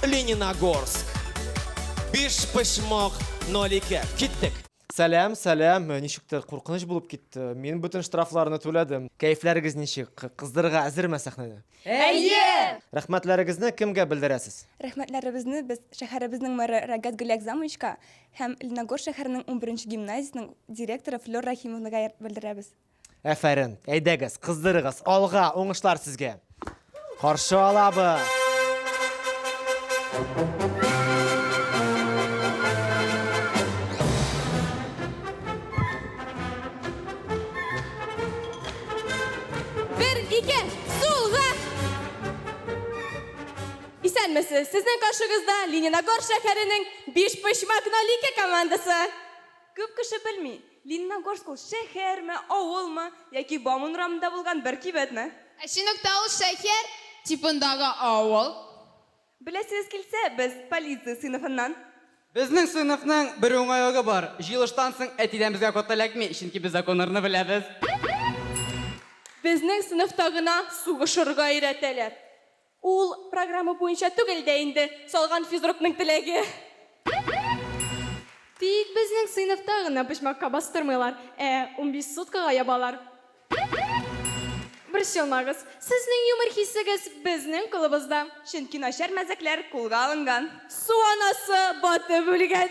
Лениногорск. Биш пышмок нолике. Киттек. Сәләм, сәләм. Ничектер куркыныч булып китте. Мин бүтән штрафларны түләдем. Кәефләрегез ничек? Кыздырырга әзерме сәхнәдә? Әйе! Рәхмәтләрегезне кемгә белдерәсез? Рәхмәтләребезне без шәһәребезнең мэры Рагат Гөлякзамовичка һәм Леногор шәһәренең 11 гимназиясенең директоры Флёр Рахимовнага белдерәбез. Әфәрен. Әйдәгез, кыздырыгыз. Алга, уңышлар сезгә. Каршы алабыз. Әммәсе, сезнең каршыгызда Лениногор шәһәренең биш почмак нолике командасы. Күп кеше белми, Лениногорск ул шәһәрме, авылмы, яки Бауман урамында булган бер кибетме? Ә Чыныкта ул шәһәр типындагы авыл. Беләсегез килсә, без, полиция сыйныфыннан. Безнең сыйныфның бер уңайлыгы бар, җыелыштан соң әтидән безгә код эләкми, чөнки без законнарны беләбез. Безнең сыйныфта гына сугышырга өйрәтәләр. Ул программа буенча түгел дә инде, салган физрукның теләге. Тик безнең сыйныфта гына почмакка бастырмыйлар, ә унбиш суткага ябалар. Борчылмагыз, сезнең юмор хисегез безнең кулыбызда. Чөнки начар мәзәкләр кулга алынган. Су анасы батып үлгән.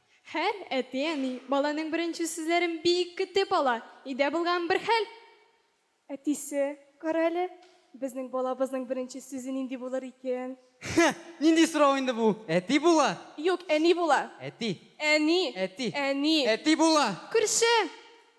Һәр әти-әни баланың беренче сүзләрен бик көтеп ала. Өйдә булган бер хәл. Әтисе, Кара әле, безнең балабызның беренче сүзе нинди булыр икән? Хе, нинди сорау инде бу? Әти була! Юк, әни була. Әти. Әни. Әти. Әни. Әти була! Күрше!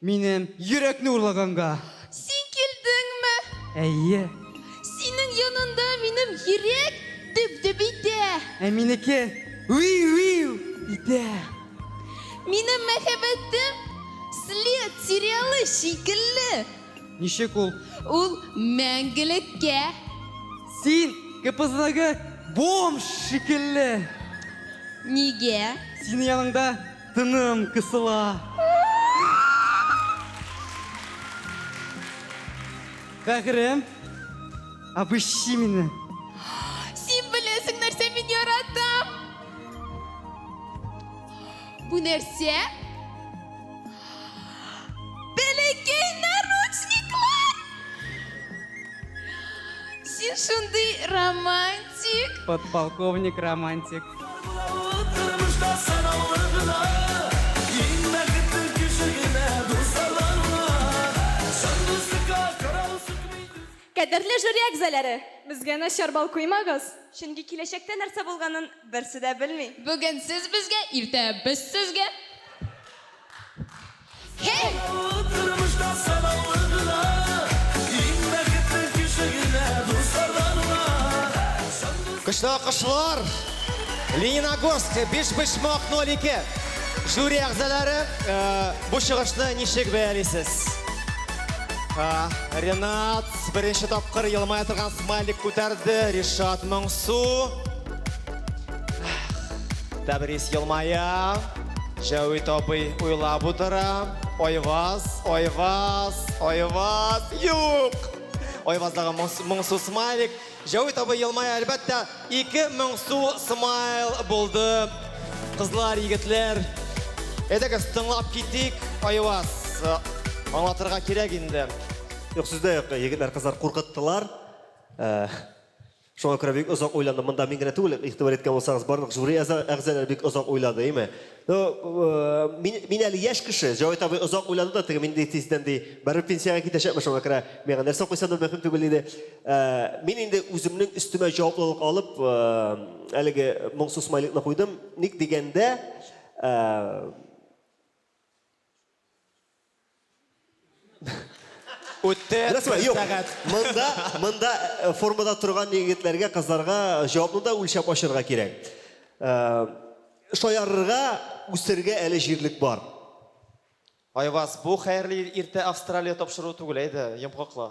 Минем йөрәкне урлаганга. Син килдеңме? Әйе. Синең янында минем йөрәк дөп-дөп итә. Ә минеке виу-виу итә. Минем мәхәббәтем След сериалы шикелле. Ничек ул? Ул мәңгелеккә. Син КПЗдагы бомж шикелле. Нигә? Синең яныңда Тыным кысыла. Бәгырем, обыщи мине. Син беләсең нәрсә мин яратам. Бу нәрсә? Бәләкәй наручниклар! Син шундый романтик. Подполковник романтик. Кадерле жюри әгъзаләре, безгә начар бал куймагыз, чөнки киләчәктә нәрсә булганын берсе дә белми. Бүген сез безгә, иртә без сезгә. Көчле акышлар! Лениногорск, биш почмак 02. Жюри әгзалары, э, бу чыгышны ничек бәялисез? Э, Ренат, беренче тапкыр елмая торган смайлик күтәрде. Ришат Моңсу. Тәбрис елмая. Җәвит абый уйлап утыра. Айваз, Айваз, Айваз. Юк! Айваздагы моңсу смайлик. Җәвит абый елмая, әлбәттә, ике моңсу смайл булды. Кызлар, егетләр, әйдәгез, тыңлап китик. Айваз, аңлатырга кирәк инде. Юк, сүз дә юк, егетләр, кызлар куркыттылар. Э, Шуңа күрә бик озак уйландым. Монда мин генә түгел, игътибар иткән булсагыз, барлык жюри әза, әгъзаләре бик озак уйлады, әйме? Ну, мин, мин әле яшь кеше, Җавит абый озак уйлады да, теге мин ди тиздән ди, барыбер пенсиягә китәчәкмен, шуңа күрә миңа нәрсә куйсам да мөһим түгел, диде. Мин инде үземнең өстемә җаваплылык алып, әлеге моңсу смайликны куйдым. Ник дигәндә, Үтте Нәрсә, бер юк. сәгать. Монда, монда э, формада торган егетләргә, кызларга җавапны да үлчәп ачарга кирәк. Э, Шаярырга, үсәргә әле җирлек бар. Айваз, бу хәерле ир- иртә Австралия тапшыру түгел, әйдә, йомгаклы.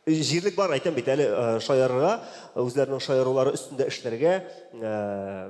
Җирлек бар, әйтәм бит әле, э, шаярырга, үзләренең шаярулары өстендә эшләргә. Э,